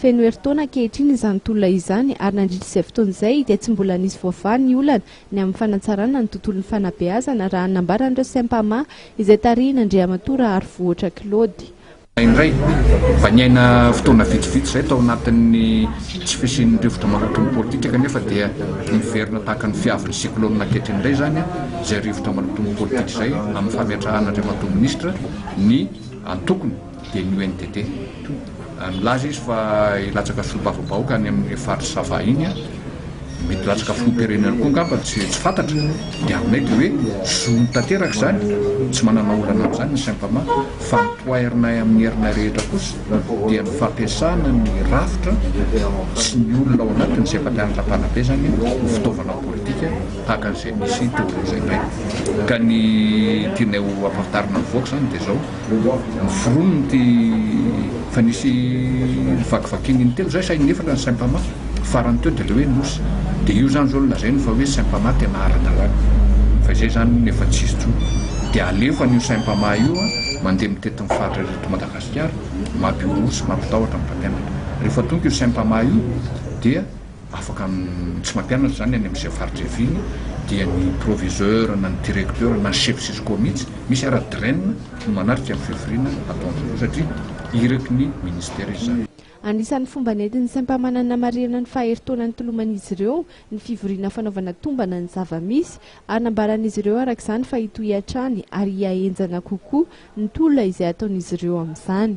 Feno herintaona ankehitriny izany tolona izany ary nandritra izay fotoana izay dia tsy mbola nisy voavaha ny olana ny amin'ny fanatsarana ny tontolon'ny fanabeazana raha ny nambaran'ireo Sempama izay tarihin'Andriamatoa Raharivohotra Claude. Indray, mba niaina fotoana vitsivitsy izay tao anatin'ny tsy fisian'ny rivotra maloto ny politika kanefa dia niverina tahaka ny fiavin'ny cyclone ankehitriny indray izany izay rivotra maloton'ny politika izay amin'ny fametrahan'Andriamatoa Minisitra ny antokony Dia ny UNDP. Milaza izy fa hilatsaka filombavambahoaka any amin'ny faritra Sava iny, mety hilatsaka filoham-pirenena koa angamba, tsy fantatra. Ny aminay dia hoe zony tanteraka izany, tsy manana olana amin'izany ny Sempama, fa ny poirinay amin'ny herinay rehetra kosa dia ny fampiasana ny rafitra sy ny olona ao anatiny izay efa mianatra am-panabeazana ho fitaovana politika tahaka an'izay nisy teo aloha izay indray. Ka ny tianay ho ampahafantarina ny vahoaka izany dia izao. Vonona ity fa nisy vakivakiana intelo zay saingy nefatra ny Saimpama farany teo dia ilay hoe Nosy dia io zany zao no lazainy fa hoe Saimpama tena ara-dalàna fa izay zany hono efa tsisy intsony dia alefa an'io Saimpama io mandeha mitety ny faritra rehetra eto Madagasikara mampihohoho sy mampitahotra ny mpampianatra rehefa tonga io Saimpama io dia Afaka tsy mampianatra izany any amin'izay faritra ihaviany dia ny proviseur na ny directeur na ny chef cisco mihitsy, misy ara dren no manatrika ny fivoriana ataon'izy ireo satria iraky ny ministera izy izany. Anisan'ny fomba nentin'ny saim-pamanana namarihana ny faha-herintaona nitoloman'izy ireo ny fivoriana fanaovana tombana ny zava-misy, hanambaran'izy ireo araka izany fa hitohy hatrany ary hihahenjana kokoa ny tolona izay ataon'izy ireo amin'izany.